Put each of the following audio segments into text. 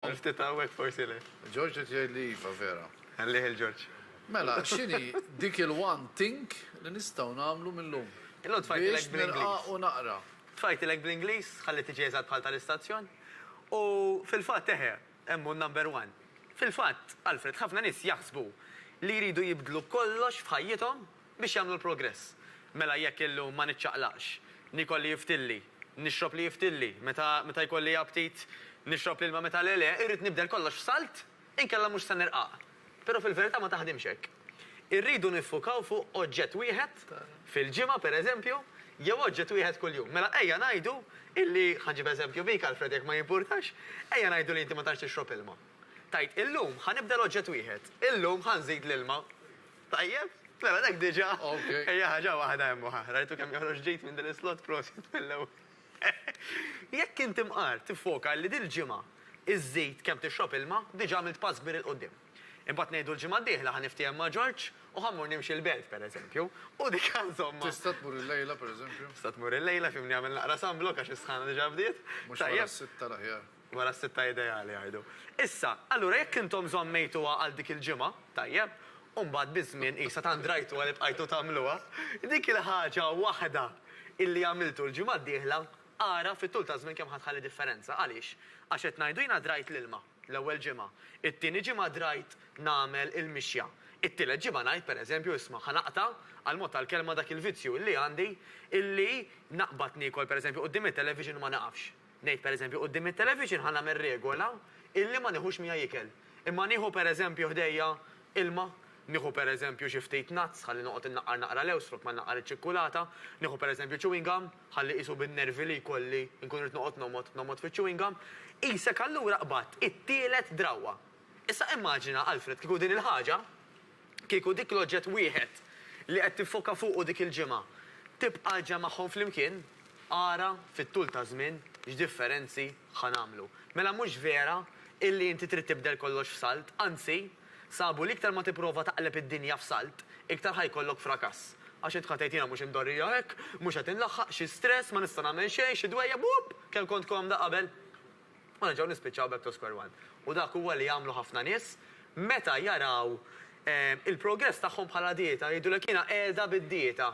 Għal ftit hawnhekk forsi le. George qed jgħid li iva, vera. Ħallih 'il George. Mela, x'inhi dik il-one thing li nistgħu nagħmlu mil-lum? Illum tfajtilek bl-Ingliż. Biex nilqa' u naqra. Tfajtilek bl-Ingliż, ħalli tiġi eżatt bħal tal-istazzjon. U fil-fatt eħe, hemm hu n-number one. Fil-fatt, Alfred, ħafna nies jaħsbu li jridu jibdlu kollox f'ħajjithom biex jagħmlu l-progress. Mela jekk illum ma niċċaqlaqx, niekol li jiftilli, nixrob li jiftilli, meta meta jkolli aptit nixrob l-ilma meta le le, irrid nibdel kollox f'salt inkella mhux se nirqaq. Però fil-verità ma taħdimx hekk. Irridu niffukaw fuq oġġett wieħed fil-ġimgħa pereżempju jew oġġett wieħed kuljum. Mela ejja ngħidu illi, ħa nġib eżempju bik Alfred jekk ma jimpurtax, ejja ngħidu li inti ma tantx tixrob ilma. Tgħid illum ħa nibdel oġġett wieħed, illum ħa nżid l-ilma. Tajjeb, mela dak diġa hija ħaġa waħda hemm u ħa. Rajtu kemm joħroġ ġid minn din is-slot, prosit mill-ewwel. Jekk inti mqar tiffoka li dil-ġimgħa żżid kemm tixrob ilma, diġa għamilt pass kbir 'il quddiem. Imbagħad ngħidu l-ġimgħa d-dieħla ħa niftiehem ma' Ġorġ u ħa mmur nimxi l-belt, pereżempju, u dik insomma. Tista' tmur il-lejla, pereżempju? Tista' tmur il-lejla, fimni għamel naqra sunblock għax is-sħana diġa bdiet. Mhux wara s-sitta l-aħjar. Wara s-sitta ideali, jgħidu. Issa, allura jekk intom żammejtuha għal dik il-ġimgħa, tajjeb, u mbagħad biż-żmien qisha tant rajtuha li bqajtu tagħmluha, dik il-ħaġa waħda illi għamiltu l-ġimgħa d-dieħla, ara fit-tul taż-żmien kemm ħa tħalli differenza. Għaliex? Għax qed ngħidu jiena drajt l-ilma, l-ewwel ġimgħa, it-tieni ġimgħa drajt nagħmel il-mixja, it-tielet ġimgħa ngħid, pereżempju, isma', ħa naqta', għall-mod tal-kelma, dak il-vizzju illi għandi illi naqbad niekol, pereżempju, quddiem it-television u ma nieqafx. Ngħid pereżempju, quddiem it-television ħa nagħmel regola illi ma nieħux miegħi ikel. Imma nieħu pereżempju ħdejja ilma, nieħu pereżempju xi ftit nuts ħalli noqgħod innaqqar naqra lewż flok ma nnaqqar iċ-ċikkulata, nieħu pereżempju chewing gum ħalli qisu bin-nervi li jkolli nkun rrid noqgħod nomgħod, nomgħod fiċ-chewing gum. Qisek allura qbadt it-tielet drawwa. Issa immaġina, Alfred, kieku din il-ħaġa, kieku dik l-oġġett wieħed li qed tiffoka fuqu dik il-ġimgħa, tibqa' ġa magħhom flimkien, ara, fit-tul taż-żmien, x'differenzi ħa nagħmlu. Mela mhux vera illi inti trid tibdel kollox f'salt, anzi, sabu li iktar ma tipprova taqleb id-dinja f'salt, iktar ħa jkollok frakass. Għax int ħa tgħid jiena mhux imdorrija hekk, mhux qed inlaħħaq, xi stress, ma nista' nagħmel xejn, xi dwejjaq, buupp! Kemm kont komda qabel! u nerġgħu nispiċċaw back to square one. U dak huwa li jagħmlu ħafna nies meta jaraw il-progress tagħhom bħala dieta, jgħidulek jiena qiegħda bid-dieta.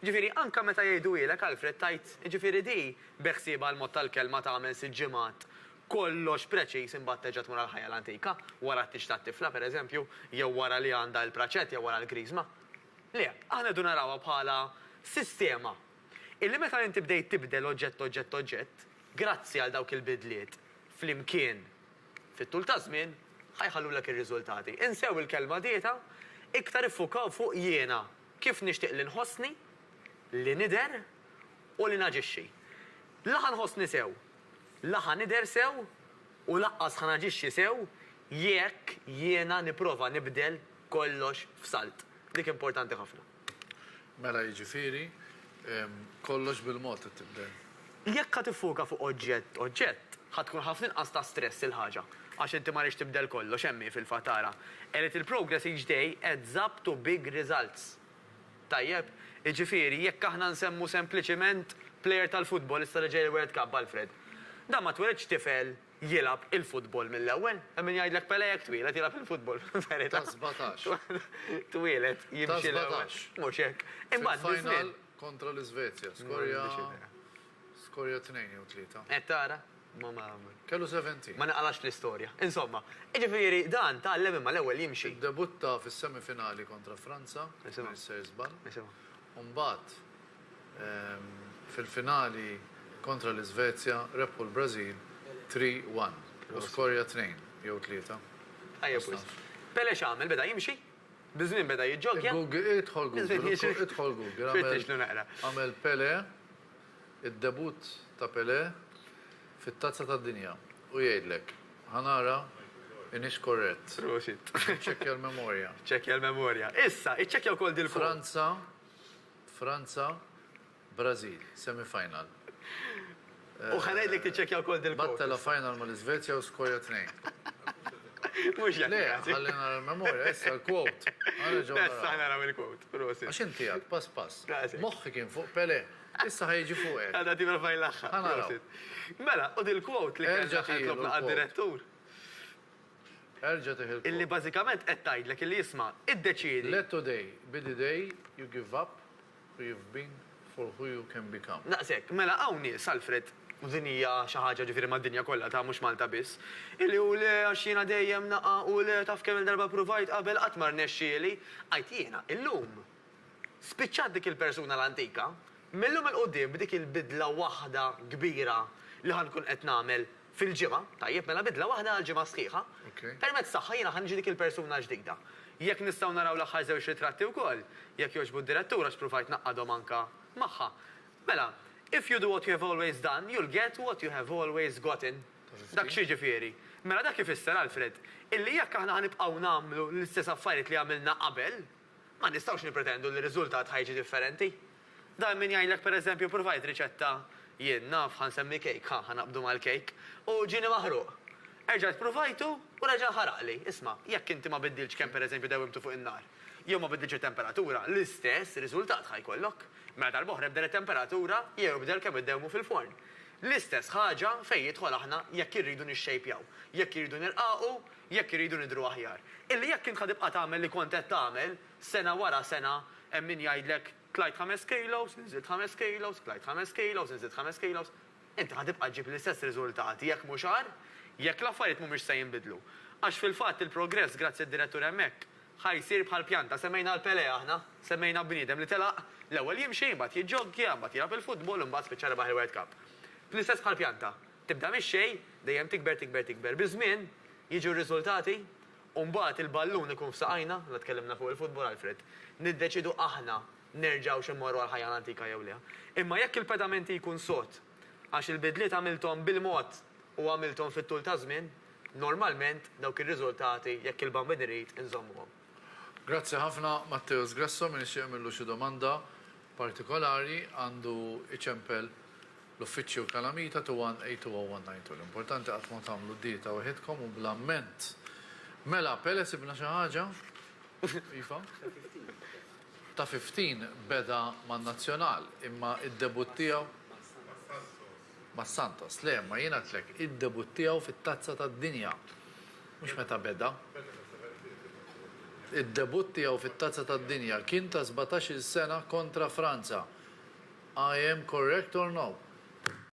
Jiġifieri anke meta jgħiduhielek Alfred tgħid jiġifieri di beħsiebha l-mod tal-kelma tagħmel sitt ġimgħat kollox preċiż imbagħad terġa' tmur għall-ħajja l-antika, wara t-tieġ tat-tifla pereżempju, jew wara li għandha l-praċett jew wara l-griżma. Le, aħna rridu narawha bħala sistema Illi meta inti bdejt tibdel oġġett-oġġett-oġġett, grazzi għal dawk il-bidliet flimkien fit-tul taż-żmien, ħa jħallulek ir-riżultati. Insew il-kelma dieta, iktar iffukaw fuq jiena, kif nixtieq li nħossni, li nidher u li naġixxi. La ħa nħossni sew, la ħa nidher sew u laqqas ħa naġixxi sew jekk jiena nipprova nibdel kollox f'salt. Dik importanti ħafna. Mela jiġifieri kollox bil-mod qed tibdel. Jekk ħa tiffuka fuq oġġett oġġett, ħa tkun ħafna inqas ta' stress il-ħaġa. Għax inti ma rridx tibdel kollox, hemm hi fil-fatt ara, A little progress each day adds up to big results. Tajjeb? Jiġifieri jekk aħna nsemmu sempliċiment plejer tal-futbol issa li ġej il-World Cup, Alfred. Dan ma tweledx tifel jilgħab il-futbol mill-ewwel. Hemm min jgħidlek Pelé jekk twieled jilgħab il-futbol fil-verità. Ta' sbatax. Twieled jimxi l-ewwel. Ta' sbatax. Mhux hekk. Imbagħad biż-żmien. Fil-final kontra l-Iżvezja skorja skorja tnejn jew tlieta. Qed tara? Ma ma. Kellu 70. Ma naqrax l-istorja. Insomma, jiġifieri dan tgħallem imma l-ewwel jimxi. Iddebutta fis-semifinali kontra Franza, jekk ma nissex żball. Nisimgħu. u mbagħad fil-finali kontra l-Iżvezja rebħu l-Brażil 3-1 u skorja tnejn jew tlieta. Tajjeb wisq. Pele x'għamel? Beda jimxi? Biż-żmien beda jiġġoggja? Idħol Google, idħol Google, għamel Pele id-debutt ta' Pelé fit-Tazza tad-Dinja u jgħidlek, Ħa nara inix korrett. Prosit. Niċċekkja l-memorja. Ċċekkja l-memorja. Issa, iċċekkja wkoll dil. Franza, Franza, Brażil, semi final. U ħa ngħidlek tiċċekkja wkoll dil. Battela final mal-Iżvezja u skorja tnejn. Mhux jekk. Le, ħalli nara l-memorja, issa l-quote. Issa naraw il-quote. Prosit. Għax inti għad pass pass. Prosit. Moħħi kien fuq Pelé. Issa ħa jiġi fuqek. Għadha tipprova jlaħħaq. Ħa naraw. Mela, u dil-quote li kellna Erġa' tieħi tlobna l-quote. għad-direttur, Erġa' tieħi illi l-quote. bażikament qed tgħidlek illi isma', iddeċiedi. Let today be the day you give up who you've been for who you can become. Daqs hekk. Mela hawn nies, Alfred, u din hija xi ħaġa ġifieri mad-dinja kollha ta' mhux Malta biss, illi u le għax jiena dejjem naqa' u le taf kemm-il darba ppruvajt qabel qatt ma rnexxieli. Għidt jiena, illum. Spiċċat dik il-persuna l-antika, mil-lum 'il quddiem b'dik il-bidla waħda kbira li ħa nkun qed nagħmel fil-ġimgħa, tajjeb, mela bidla waħda għall-ġimgħa sħiħa, permezz tagħha jiena ħa niġi dik il-persuna l-ġdida. Jekk nistgħu naraw l-aħħar żewġ ritratti wkoll, jekk jogħġbu d-Direttur għax pruvajt ngħaqqadhom anke magħha. Mela, If you do what you have always done, you'll get what you have always gotten. Dak x'jiġifieri? Mela dak ifisser, Alfred, illi jekk aħna ħa nibqgħu nagħmlu l-istess affarijiet li għamilna qabel, Ma nistgħux nippretendu li r-riżultat ħa jiġi differenti. Dan minn jgħidlek per eżempju provajt riċetta, jien naf, ħa nsemmi kejk, ħa, ħa naqbdu mal-kejk, u ġieni maħruq. Erġajt pruvajtu u reġa' nħaraqli. Isma', jekk inti ma biddiltx kemm per eżempju dewwimtu fuq in-nar, jew ma biddiltx it-temperatura, l-istess riżultat ħa jkollok. Mela darb'oħra ibdel it-temperatura jew ibdel kemm iddewwmu fil-forn. L-istess ħaġa fejn jidħol aħna jekk irridu nixxejpjaw, jekk irridu nirqaqu, Jekk irridu nidhru aħjar. Illi jekk int ħa tibqa' tagħmel li kont qed tagħmel, sena wara sena, hemm min jgħidlek, tlajt ħames kilos, inżilt ħames kilos, tlajt ħames kilos, inżilt ħames kilos, inti ħa tibqa' ġġib l-istess riżultati, jekk mhux agħar, jekk l-affarijiet mhumiex se jinbidlu. Għax fil-fatt il-progress, grazzi d-direttur hemmhekk, ħa jsir bħal pjanta. Semmejna l-Pelé aħna. Semmejna bniedem li telaq, l-ewwel jimxi, imbagħad jiġġoggja, imbagħad jilgħab il-futbol u mbagħad spiċċa rebaħ il-World Cup. L-istess bħall-pjanta. Tibda mix-xejn, dejjem tikber tikber tikber. Biż-żmien, jiġu r-riżultati u mbagħad il-ballun ikun f'saqajna, la tkellimna fuq il-futbol Alfred, niddeċiedu aħna nerġgħux immorru għall-ħajja l-antika jew le. Imma jekk il-pedament jkun sod, għax il-bidliet għamilthom bil-mod u għamilthom fit-tul taż-żmien, normalment dawk ir-riżultati, jekk il-Bambin irid, inżommuhom. Grazzi ħafna Matteus Grasso, min ixtieq jagħmillu xi domanda partikolari għandu iċempel l-uffiċċju Calamita 21820192. L-importanti qatt ma tagħmlu dieta weħidkom u bla mment. Mela, Pele sibna xi ħaġa? Iva? Ta' 15 beda man-Nazzjonal imma id-debutt tiegħu Ma' Santos, le, imma jien għedtlek, id-debutt tiegħu fit-Tazza tad-Dinja, mhux meta beda. Id-debutt tiegħu fit-Tazza tad-Dinja kien ta' sbatax-il sena kontra Franza. I am correct or no?